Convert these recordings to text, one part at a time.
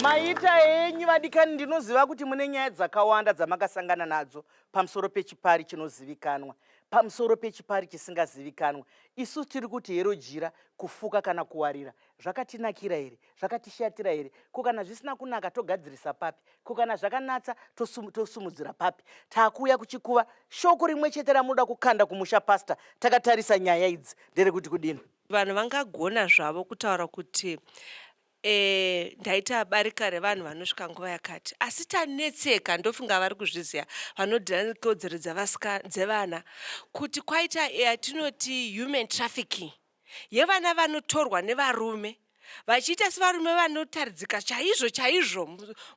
maita henyu vadikani ndinoziva kuti mune nyaya dzakawanda dzamakasangana nadzo pamusoro pechipari chinozivikanwa pamusoro pechipari chisingazivikanwa isu tiri kuti herojira kufuka kana kuwarira zvakatinakira here zvakatishatira here ko kana zvisina kunaka togadzirisa papi ko kana zvakanatsa tosumudzira papi takuuya kuchikuva shoko rimwe chete ramunoda kukanda kumusha pasta takatarisa nyaya idzi ndere kuti kudini vanhu vangagona zvavo kutaura kuti e, ndaita barika revanhu vanosvika nguva yakati asi tanetseka ndofunga vari kuzviziva vanodhira nekodzero dzevana kuti kwaita yatinoti human trafficking yevana vanotorwa nevarume vachiita sevarume vanotaridzika chaizvo chaizvo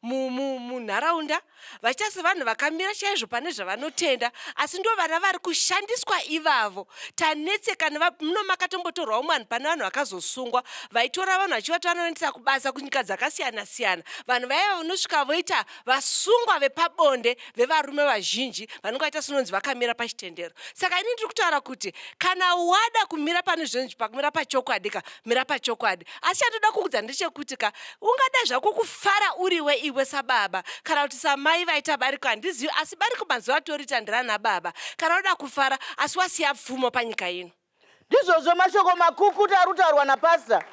munharaunda vachiita sevanhu vakamira chaizvo pane zvavanotenda asi ndo vana vari kushandiswa ivavo tanetsekana muno makatombotorwawo mwanhu pane vanhu vakazosungwa vaitora vanhu vachivatora vanoendesa kubasa kunyika dzakasiyana siyana vanhu vaiva vanosvika voita vasungwa vepabonde vevarume vazhinji vanenge vaita sinonzi vakamira pachitendero saka ini ndiri kutaura kuti kana wada kumira pane zvinonzi pakumira pachokwadi ka mira pachokwadi asi chandoda kuudza ndechekuti ka ungada zvako kufara uriwe iwe sababa kana kuti samai vaita bariko handizivi asi bariko mazuva atoriita ndirana baba kana uda kufara asi wasiya pfumo panyika ino Ndizvozvo mashoko makukuta arutaurwa napastor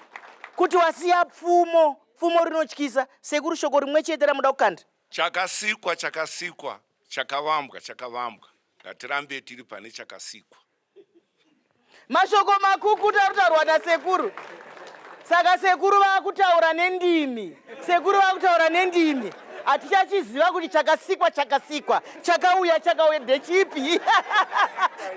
kuti wasiya pfumo pfumo rinotyisa sekuru shoko rimwe chete ramuda kukanda chakasikwa chakasikwa chakavambwa chakavambwa ngatirambe tiri pane chakasikwa mashoko makukuta arutaurwa nasekuru saka sekuru vakutaura nendimi Sekuru vakutaura nendimi hatichachiziva kuti chakasikwa chakasikwa chakauya chakauya ndechipi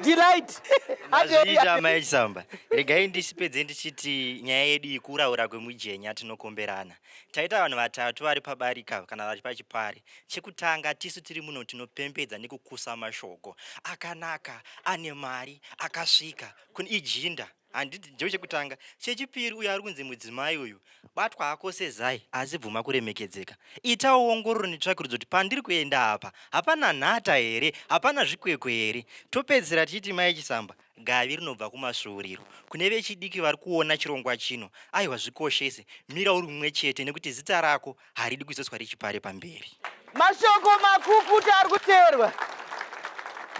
delight azviita mai chisamba regai ndisipedze ndichiti nyaya yedu ikuraura kwemujenya tinokomberana taita vanhu vatatu vari pabarika kana vari pachipari chekutanga tisu tiri muno tinopembedza nekukusa mashoko akanaka ane mari akasvika kune ijinda handiti ndicho chekutanga chechipiri uyo ari kunzi mudzimai uyu batwa hako sezai asi bvuma kuremekedzeka itawo ongororo netsvakirudzo kuti pandiri kuenda apa hapana nhata here hapana zvikwekwe here topedzisira tichiti mai chisamba gavi rinobva kumasvuuriro kune vechidiki vari kuona chirongwa chino aiwa zvikoshese mira uri mumwe chete nekuti zita rako haridi kuzoiswa rechipare pamberi mashoko makukuta ari kuteerwa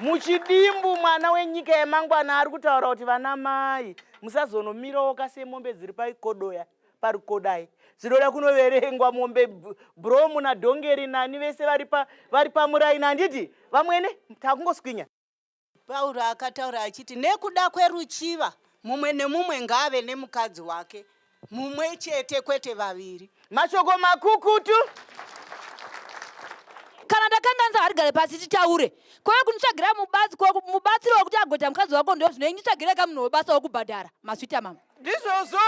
muchidimbu mwana wenyika yemangwana ari kutaura kuti vana mai musazonomirowoka semombe dziri paikodoya parikodai dzinoda kunoverengwa mombe bromu nadhongeri nani vese vari pamuraini handiti vamwene takungoswinya Pauro akataura achiti nekuda kweruchiva mumwe nemumwe ngaave nemukadzi wake mumwe chete kwete vaviri. Mashoko makukutu. Kana ndakanga nzi harigare pasi titaure kwave kunditsvagira mubatsiro wekuti agoita mukadzi wako ndozvinoi nditsvagire ka munhu webasa wekubhadhara maswita mama ndizvozvo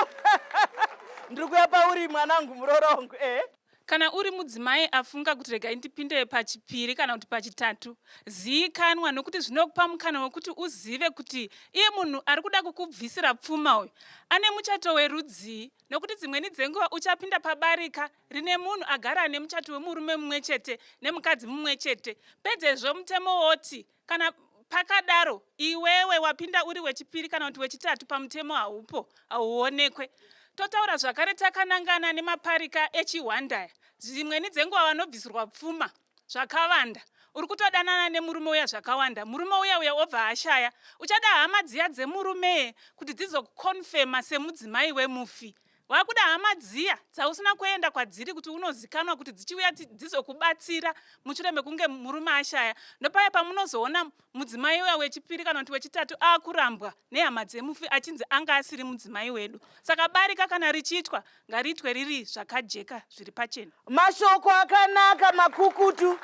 ndiri kuya pauri mwanangu murorongo eh? Kana uri mudzimai afunga kuti regai ndipinde pachipiri kana kuti pachitatu, ziikanwa nokuti zvinokupa mukana wekuti uzive kuti iye munhu ari kuda kukubvisira pfuma uyu ane muchato werudzii, nokuti dzimweni dzenguva uchapinda pabarika rine munhu agara ane muchato wemurume mumwe chete nemukadzi mumwe chete, pedzezvo mutemo woti Kana pakadaro iwewe wapinda uri wechipiri kana kuti wechitatu pamutemo haupo hauonekwe totaura zvakare takanangana nemaparika echihwandaya dzimweni dzenguva vanobvisirwa pfuma zvakavanda uri kutodanana nemurume uya zvakawanda murume uya uya obva ashaya uchada hama dziya dzemurume kuti dzizokukonfema semudzimai wemufi wakuda hama dziya dzausina kuenda kwadziri kuti unozikanwa kuti dzichiuya dzizokubatsira mushure mekunge murume ashaya ndopaya pamunozoona mudzimai uya wechipiri kana kuti wechitatu akurambwa nehama dzemufi achinzi anga asiri mudzimai wedu saka barika kana richiitwa ngariitwe riri zvakajeka zviri pachena mashoko akanaka makukutu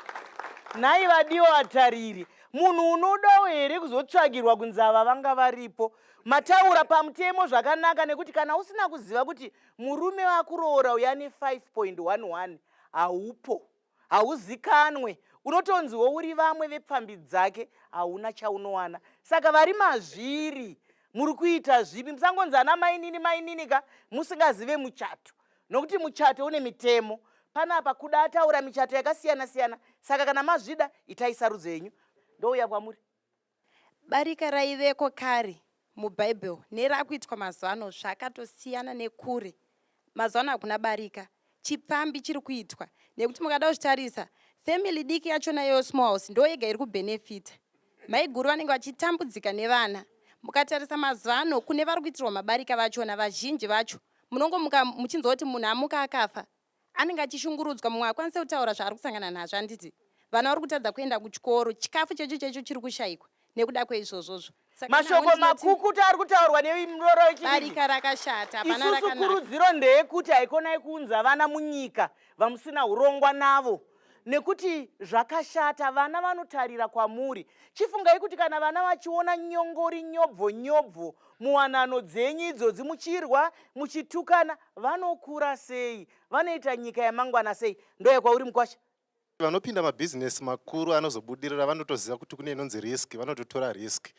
nhai vadiwa vatariri munhu unodawo here kuzotsvagirwa kunzi ava vanga varipo Mataura pamutemo zvakanaka nekuti kana usina kuziva kuti murume wakuroora uya ne 5.11 haupo hauzikanwe unotonziwo uri vamwe vepfambi dzake hauna chaunowana saka vari mazviri muri kuita zvipi musangonzi ana mainini mainini ka musingazive muchato nokuti muchato une mitemo panapa kuda ataura michato yakasiyana siyana saka kana mazvida itai sarudzo yenyu ndouya kwamuri Barika raiveko kare muBible nerakuitwa mazuva ano zvakatosiyana nekure. Mazuva ano hakuna barika, chipfambi chiri kuitwa nekuti mukada kuzvitarisa family diki yachona iyoyo small house ndo yega iri kubenefita. Maiguru vanenge vachitambudzika nevana. Mukatarisa mazuva ano kune vari kuitirwa mabarika vachona vazhinji vacho munongomuka muchinzwa kuti munhu amuka akafa anenge achishungurudzwa mumwe akwanise kutaura zvaari kusangana nazvo handiti vana vari kutadza kuenda kuchikoro chikafu checho checho chiri kushayikwa nekuda kweizvozvozvo mashoko makukutu ari kutaurwa nemuroro wechibarika rakashata isusu kurudziro ndeyekuti haikonai kuunza vana munyika vamusina urongwa navo nekuti zvakashata vana vanotarira kwamuri chifungai kuti kana vana vachiona nyongori nyobvo nyobvo muwanano dzenyu idzodzi muchirwa muchitukana vanokura sei vanoita nyika yamangwana sei ndoya kwauri mukwasha vanopinda mabhizinesi makuru anozobudirira vanotoziva kuti kune inonzi risk vanototora risk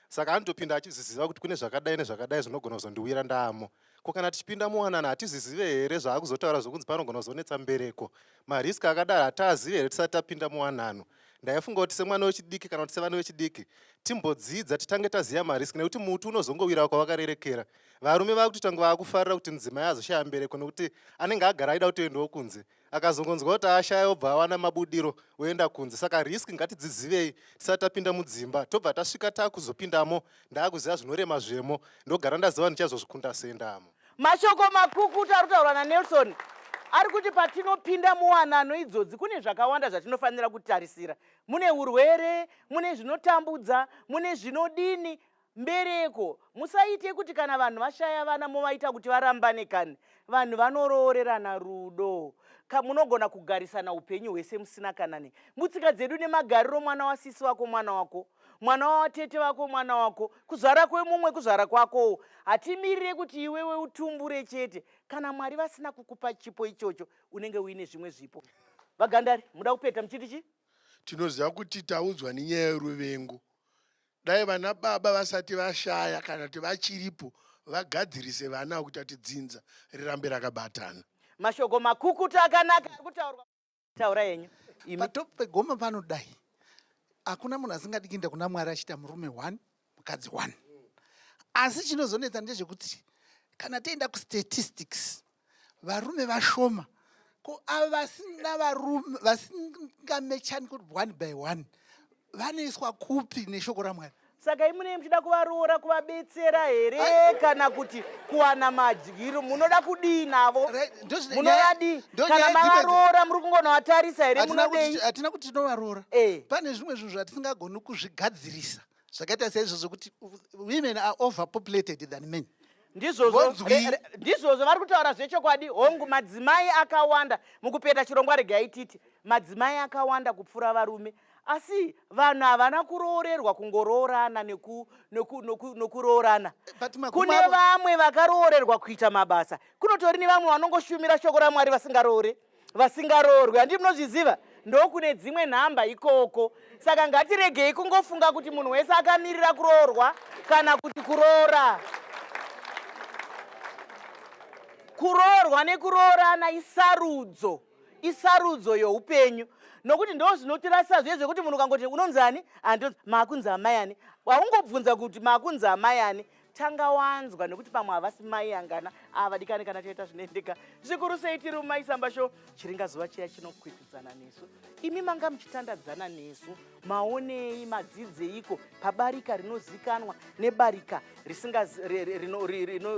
saka anotopinda achizviziva kuti kune zvakadai nezvakadai zvinogona kuzondiwira ndamo Ko kana tichipinda muwanana hatizvizive here zvaakuzotaura zvokunzi panogona kuzonetsa mbereko? Marisk akadaro hataazive here tisati tapinda muwanano? Ndaifunga kuti semwana wechidiki kana kuti sevana vechidiki timbodzidza titange taziva marisk nekuti muti unozongowirawo kwavakarerekera. Varume vakutoita kunge vaakufarira kuti mudzimai azoshaya mbereko nekuti anenge agara aida kutoendawo kunze. akazongonzwa kuti ashaya obva awana mabudiro oenda kunze saka risk ngatidzidzivei tisati tapinda mudzimba tobva tasvika takuzopindamo ndaakuziva zvinorema zvemo ndogara ndaziva ndichazozvikunda sendamo mashoko makukutu ari kutaurwa nanelson ari kuti patinopinda muwanano idzodzi kune zvakawanda zvatinofanira kutarisira mune urwere mune zvinotambudza mune zvinodini Mbereko musaite kuti kana vanhu vashaya vana movaita kuti varambane kani. Vanhu vanoroorerana rudo. Ka munogona kugarisana upenyu hwese musina kana ne. Mutsika dzedu nemagariro mwana wasisi wako mwana wako. Mwana watete vako mwana wako. Kuzvara kwemumwe kuzvara kwakowo. Hatimirire kuti iwewe utumbure chete. Kana Mwari vasina kukupa chipo ichocho unenge uine zvimwe zvipo. Vagandari muda kupeta muchiti chi? Tinoziva kuti taudzwa nenyaya yeruvengo. dai vana baba vasati vashaya kana kuti vachiripo vagadzirise vana avo kuita kuti dzinza rirambe rakabatana mashoko makukuta akanaka akutaurwa taura yenyu patop pegoma pano dai hakuna munhu asingadi kuenda kuna mwari achiita murume one mukadzi one asi chinozonetsa ndezvekuti kana tienda kustatistics varume vashoma ko ava vasina varume vasingamechani kuti one by one vanoiswa kupi neshoko ramwari saka imunei muchida kuvaroora kuvabetsera here kana kuti kuwana madyiro munoda kudii navo munovadii kana mavaroora muri kungonovatarisa here munodehatina kuti tinovaroora eh. pane zvimwe zvinhu zvatisingagoni kuzvigadzirisa zvakaita seizvozvo kuti women are overpopulated than men ndizvozvo eh, eh, ndizvozvo vari kutaura zvechokwadi hongu madzimai akawanda mukupeta chirongwa regai titi madzimai akawanda kupfuura varume asi vanhu havana kuroorerwa kungoroorana nokuroorana kune vamwe vakaroorerwa kuita mabasa kunotori nevamwe vanongoshumira shoko ramwari vasingaroore vasingaroorwi handii munozviziva ndokune dzimwe nhamba ikoko saka ngatiregei kungofunga kuti munhu wese akamirira kuroorwa kana kuti kuroora kuroorwa nekuroorana isarudzo isarudzo youpenyu nokuti ndo zvinotirasa zviye zvekuti munhu ukangoti unonzani andonzi makunzi amayani waungobvunza kuti makunzi amayani tanga wanzwa nekuti pamwe havasi mai angana avadikani kana chaita zvinoendeka zvikuru sei tiri mumai samba sho chiringa zuva chiya chinokwikwidzana nesu imi manga muchitandadzana nesu maonei madzidzeiko pabarika rinozikanwa nebarika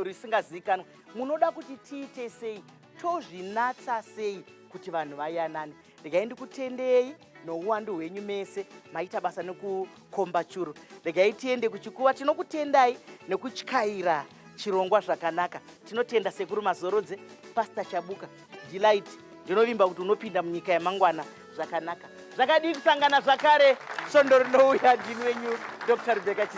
risingazikanwa munoda kuti tiite sei tozvinatsa sei kuti vanhu vayanane regai ndikutendei nouwandu hwenyu mese maita basa nekukomba churu regai tiende kuchikuva tinokutendai nekutyaira chirongwa zvakanaka tinotenda sekuru mazorodze pasta chabuka delight ndinovimba kuti unopinda munyika yamangwana zvakanaka zvakadii kusangana zvakare svondo rinouya ndini wenyu dr rebeka